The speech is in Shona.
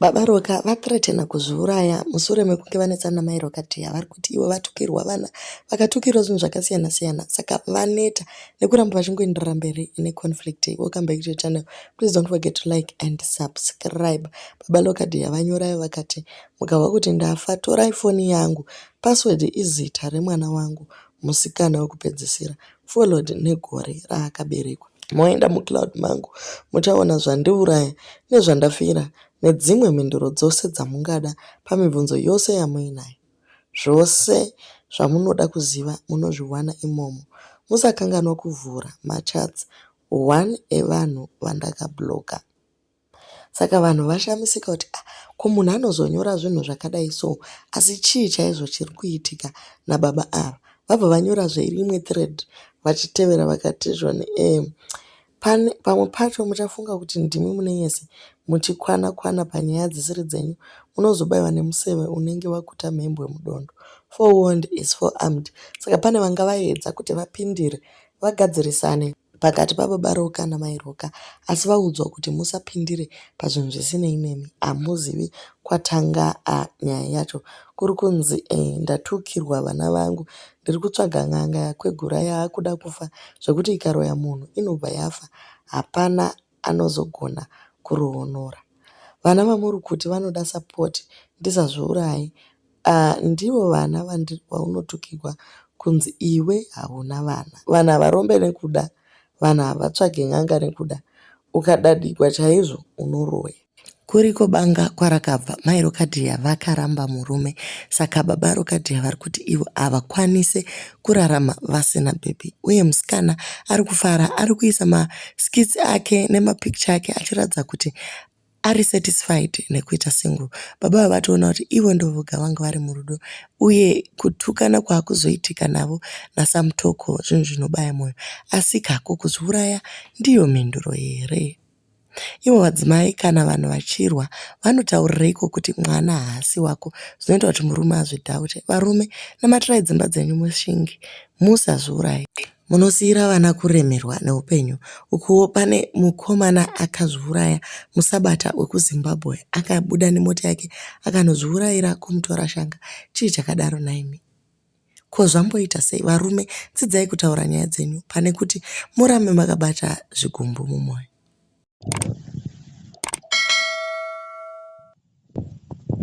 Baba Roka vathreatena kuzviuraya mushure mekunge vanetsana namai Roka Tea vari kuti ivo vatukirwa vana vakatukirwa zvinhu zvakasiyana siyana saka vaneta nekuramba vachingoenderera mberi ne conflict. Welcome back to the channel. Please don't forget to like and subscribe. Baba Roka Tea vanyorayo vakati mukahwa kuti ndafa torai foni yangu password izita remwana wangu Musikana wekupedzisira followed negore raakaberekwa. Moenda mucloud mangu muchaona zvandiuraya nezvandafira nedzimwe mhinduro dzose dzamungada pamibvunzo yose yamuinayo. Zvose zvamunoda kuziva munozviwana imomo. Musakanganwa kuvhura machats one evanhu vandakablocker. Saka vanhu vashamisika kuti ah, ko munhu anozonyora zvinhu zvakadai so asi chii chaizvo chiri kuitika nababa ava vabva vanyora zveimwe thread vachitevera vakatizwa neem pamwe pacho muchafunga kuti ndimi mune yese muchikwana kwana panyaya dzisiri dzenyu munozobaiwa nemuseve unenge wakuta mhembwe mudondo for wond is for armed saka pane vanga vaedza kuti vapindire vagadzirisane pakati pababa Roka namai Roka asi vaudzwa kuti musapindire pazvinhu zvisinei nemi hamuzivi kwatanga a nyaya yacho kuri kunzi e, ndatukirwa vana vangu ndiri kutsvaga n'anga yakwegura yaakuda kufa zvekuti ikaroya munhu inobva yafa hapana anozogona kuroonora vana vamuri kuti vanoda support ndisazviurayi ahh ndivo vana vandi vaunotukigwa kunzi iwe hauna vana vanhu havarombe nekuda vanhu havatsvage n'anga nekuda ukadadigwa chaizvo unoroya Kuriko banga kwarakabva mai Rokadhiya vakaramba murume saka baba Rokadhiya vari kuti ivo havakwanise kurarama vasina bhebhi uye musikana ari kufara ari kuisa maskits ake nemapicture ake achiratidza kuti ari satisfied nekuita single baba ava vatoona kuti ivo ndovoga vanga vari murudo uye kutukana kwaakuzoitika navo nasamutoko zvinhu zvinobaya mwoyo asi kako kuzviuraya ndiyo mhinduro here Ivo vadzimai kana vanhu vachirwa vanotaurireiko kuti mwana haasi wako zvinoita kuti murume azvidhaute. Varume namatirai dzimba dzenyu mushinge musazviuraye. Munosiira vana kuremerwa neupenyu. Ukuwo pane mukomana akazviuraya musabata wekuZimbabwe akabuda nemota yake akanozviuraira kumutora shanga. Chii chakadaro nhaimi. Ko zvamboita sei varume dzidzai kutaura nyaya dzenyu pane kuti murambe makabata zvigumbu mumoyo.